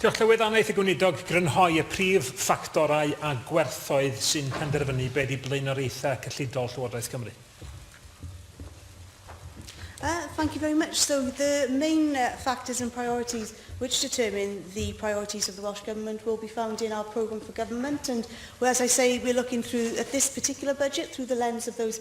Diolch Llywydd, a wnaeth y Gweinidog grynhoi y prif ffactorau a gwerthoedd sy'n penderfynu be ydy blaenoriaethau cyllidol Llywodraeth Cymru? Uh, thank you very much. So the main uh, factors and priorities which determine the priorities of the Welsh Government will be found in our programme for government. And well, as I say, we're looking through, at this particular budget, through the lens of those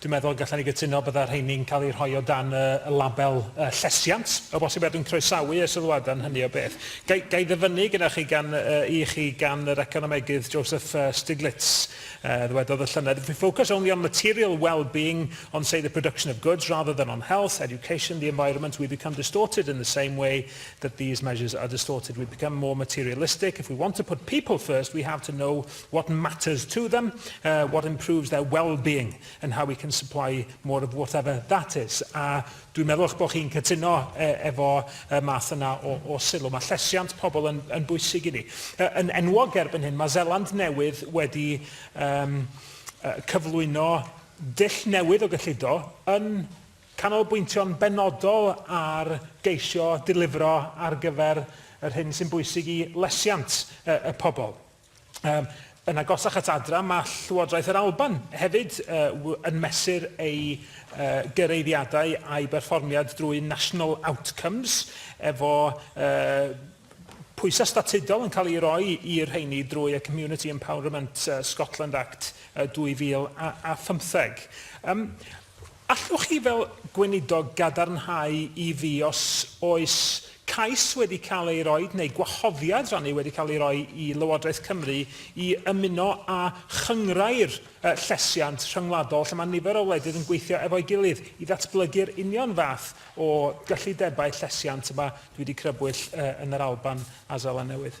Dwi'n meddwl y gallwn ni gytuno byddai rheini'n cael eu rhoi o dan y label llesiant, o bosib, a dwi'n croesawu y sylwadau yn hynny o beth. Ga i, ga i ddyfynnu gyda chi gan, yy, i chi gan yr economegydd Joseph Stiglitz, yy, ddywedodd y llynedd, If we focus only on material well-being, on say the production of goods, rather than on health, education, the environment, we become distorted in the same way that these measures are distorted. We become more materialistic. If we want to put people first, we have to know what matters to them, uh, what improves their well-being and how we can supply more of whatever that is. A dwi'n meddwl eich bod chi'n cytuno e, efo y math yna o, o sylw. Mae llesiant pobl yn, yn bwysig i ni. Uh, yn enwog erbyn hyn, mae Zeland Newydd wedi um, uh, cyflwyno dull newydd o gyllido yn canolbwyntio'n benodol ar geisio dilifro ar gyfer yr hyn sy'n bwysig i lesiant y, y pobl. Yym, yn agosach at adra, mae Llywodraeth yr Alban hefyd uh, yn mesur ei uh, gyreiddiadau a'i berfformiad drwy National Outcomes, efo uh, pwysau statudol yn cael ei roi i'r rheini drwy y Community Empowerment uh, Scotland Act uh, 2015. Um, Allwch chi fel Gweinidog gadarnhau i fi os oes cais wedi cael ei roi neu gwahoddiad rannu wedi cael ei roi i Lywodraeth Cymru i ymuno â chynghrair llesiant rhyngwladol lle mae nifer o wledydd yn gweithio efo'i gilydd i ddatblygu'r union fath o gyllidebau llesiant y mae dwi wedi crybwyll yn yr Alban a Seland Newydd?